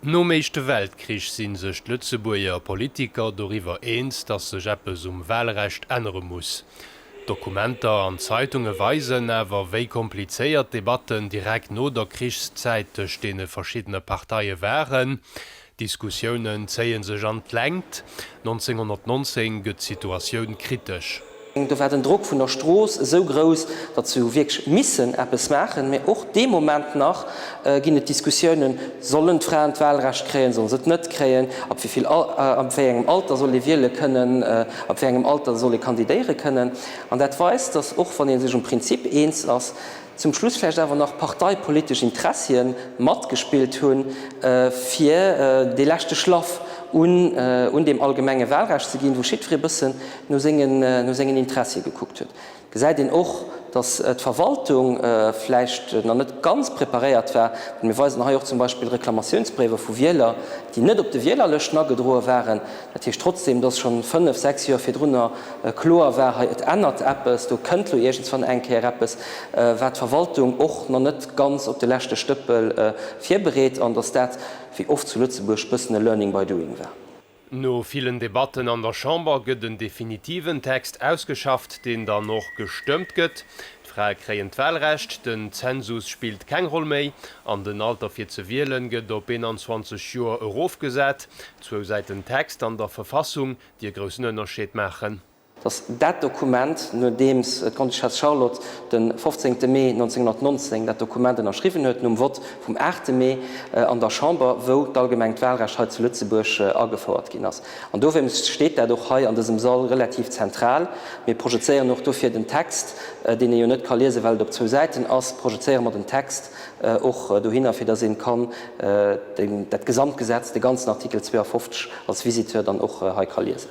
Nom Éischte Weltkrich si sech d'Lëtzebuerger Politiker doriwwer eens, datt sech eppes um Walrecht ännere muss. Dokumenter an Zeitunge weisen awer, wéi komplizéiert d'Debatten direkt no der Krichszäit tëscht deene verschiddene Parteie waren. D'Diskussiounen zéie sech an d'Längt. 1919 gëtt d'Situatioun kritesch. Do war den Drock vun der Strooss esou grouss, datt se hu wierklech missen eppes maachen. Mee och dee Moment nach ginn et Diskussiounen, Sollen d'Fraen d'Wahlrecht kréien, solle se et net kréien? Ab wéi vill Al, ab wéi engem Alter soll ee wiele kënnen? Ab wéi engem Alter soll ee kandidéiere kënnen? An dat weist, datt och wann ee sech um Prinzip eens ass, Zum Schluss vläicht awer nach parteipolitesch Interessien matgespillt hunn, fir dee leschte Schlaff un deem allgemenge Wahlrecht ze ginn, wou jiddweree e bëssen no sengen Interessie gekuckt huet. Et gesäit een och, datt d'Verwaltung vläicht nach net ganz preparéiert war. Mir weisen hei och zum Beispill Reklamatiounsbréiwer vu Wieler, déi net op de Wielerlëschten agedroe waren. Dat heescht trotzdeem, dass scho fënnf, sechs Joer virdrunner kloer war, hei, et ännert eppes, do kënnt elo iergendswann eng Kéier eppes, war d'Verwaltung och nach net ganz op de leschte Stëppel virbereet an dass dat, wéi oft zu Lëtzebuerg, bëssen e Learning by doing war. No villen Debatten an der Chamber gëtt en definitiven Text ausgeschafft, deen dann och gestëmmt gëtt. D'Frae kréien d'Walrecht, den Zensus spillt keng Roll méi an den Alter fir ze wielen gëtt op 21 Joer erofgesat. Zwou Säiten Text an der Verfassung, déi e groussen Ënnerscheed maachen. Datt dat Dokument, nodeems d'Grande-Duchesse Charlotte de 15 Mee 1919 dat Dokument ënnerschriwwen huet, nom Vott vum 8 Mee an der Chamber, wou d'allgemengt Walrecht hei zu Lëtzebuerg agefouert ginn ass, An dowéinst steet dat och hei an dësem Sall relativ zentral. Mir projezéieren och dofir den Text, deen ee jo net ka liesen, well et op zwou Säiten ass, projezéiere mer den Text och dohinner, fir dass ee kann dat gesamt Gesetz, de ganzen Artikel 52 als Visiteur dann och hei ka liesen.